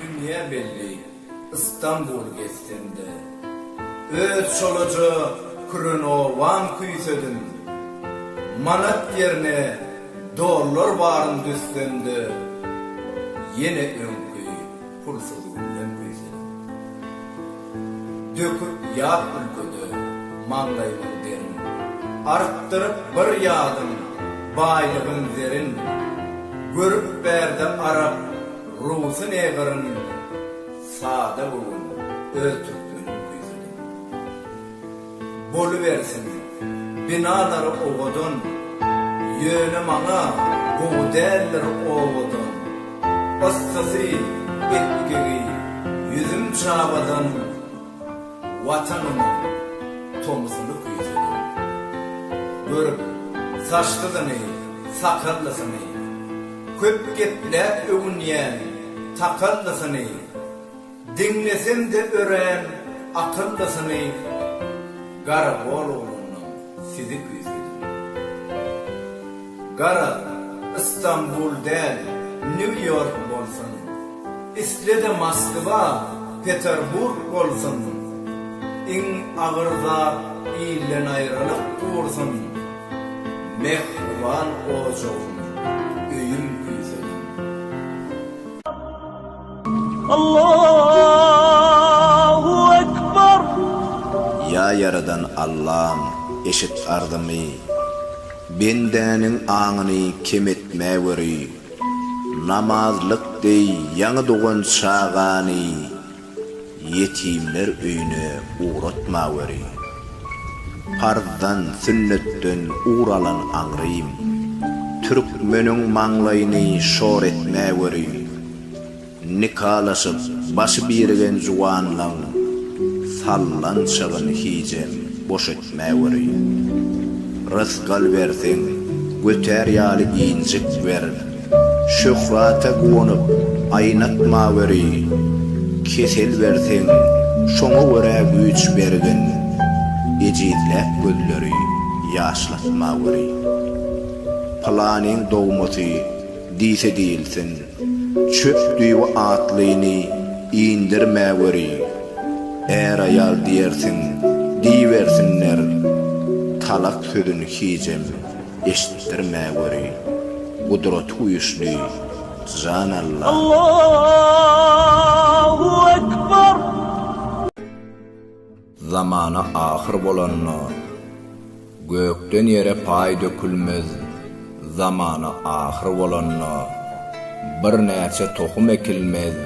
Dünýä belli Istanbul gezsem-de. Öz çolaja kürenowan küýsedim. Manat ýerine dollar baryn düzsem-de. Ýene öňki Pulsuz gülden güýzelim. Döküp ýat ülkede maňlaýymyň derin. Artdyryp bir ýadym baýlygym zerin. Görüp bärde arap rusy ne gyryn. Sada göwün öz türkmenim güýzelim. Bolubersin, binalary owadan, ýöne maňa gowy däldir owadan. Yssysy, epgigi, ýüzüm çabadan, Watanymyň tomusyny küýsedim. Görüp, saçsyzyny, sakallysyny, köp gepläp öwünýän takallysyny, Diňlesemde örän akyllysyny Garagolowlanyň sizi küýsedim. Gara Istanbul däl New York bolsun, islede Moskwa, Peterburg bolsun, iň agyr zat ilden aýralyk dursun, mähriban ojagym, öýüm küýsedim. Allahu Ekber! Ýa Ýaradan Allam, eşit arzymy, Bendäniň aňyny kem etmäweri. Namazlyk deý ýaňy dogan çagany. Ýetimler öýüne ugratmaweri. Parzdan, sünnetden ugur alan aňrym. Türkmeniň maňlaýyny şor etmäweri. Nikalaşyp, başy birigen juwanlaň sallançagyn hijem boş etmäweri. Mäwirýän. Rysgal berseň, götär ýaly injik ber. Şöhrata guwanyp, aýnatmaweri. Kesel berseň, şoňa görä güýç bergin. Ejizläp gözleri, ýaşlatmaweri. Pylanyň dogmasy diýse diýilsin. Çöp düýbi atlyny indirmäweri, är-aýal diýersiň, diýibersinler, talak sözün hijem eşitdirmäweri, Gudrat güýçli Jan Alla! Zamana ahyr bolanda, gökden ýere paý dökülmez, zamana ahyr bolanda, birnäçe tohum ekilmez,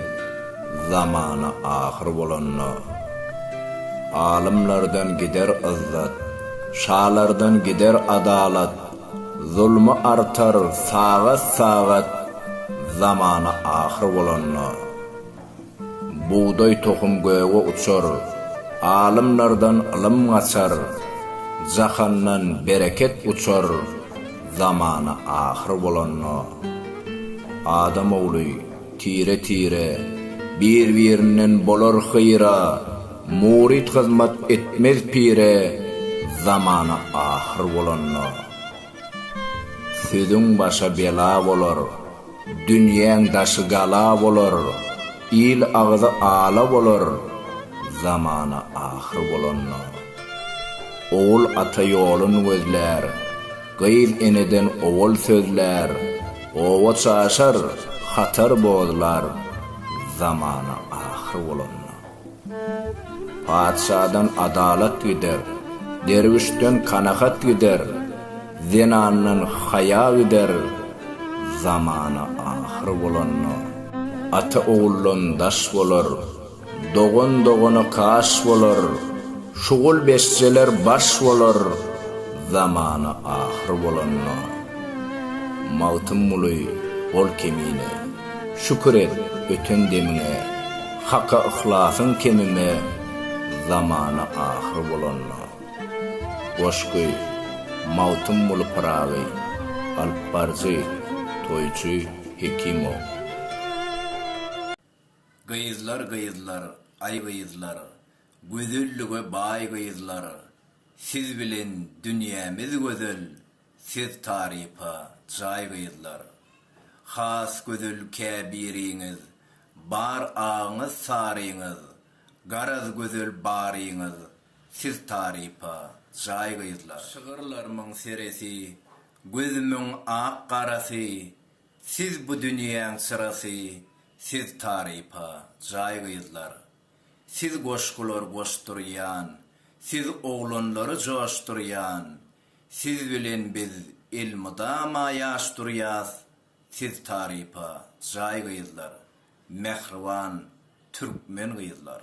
zamana ahyr bolanda, alymlardan gider yzzat, şalardan gider adalat, zulmy artar sagat-sagat, zamana ahyr bolanda. Bugdaý tohum göge uçar, Alymlardan ylym gaçar, Jahandan bereket uçar, Zamana ahyr bolanda. Adam ogly, tire-tire, Bir-birinden bolar hyýra, Muryt hyzmat etmez pire, Zamana ahyr bolanda. Sözüň başa bela bolar, dünýäň daşy gala bolar, il agzy ala bolar, zamana ahyr bolanda. Ogul ata ýolun gözlär, gyz eneden owal sözlär, oba çaşar, hatar bozlar, zamana ahyr bolanda. Patyşadan adalat gider, derwüşden kanagat gider, zenandan haýa gider, zamana ahyr bolanda, ata oguldan daş bolar, dogan dogana kaş bolar, şugul beşjeler baş bolar, zamana ahyr bolanda. Magtymguly, Ol kemine, şükür et, öten demiňe. Haka yhlasyň kemime zamana ahyr bolanda. Goşgy, Magtymguly Pyragy, alyp baryjy, toýçy Hekimow. Gyzlar gyzlar, aý gyzlar, Gözellige baý gyzlar, Siz bilen dünýämiz gözel, Siz tarypa jaý gyzlar. Has gözel käbiriňiz bar agyňyz saryňyz garaz gözel baryňyz siz tarypa jaý gyzlar. Şygyrlarmyň seresi gözümiň ak garasy siz bu dünýäň çyrasy siz tarypa jaý gyzlar. Siz goşgular goşdurýan siz oglanlary joşdurýan Siz bilen biz elmydama ýaş durýas siz tarypa jaý gyzlar mähriban türkmen gyzlar.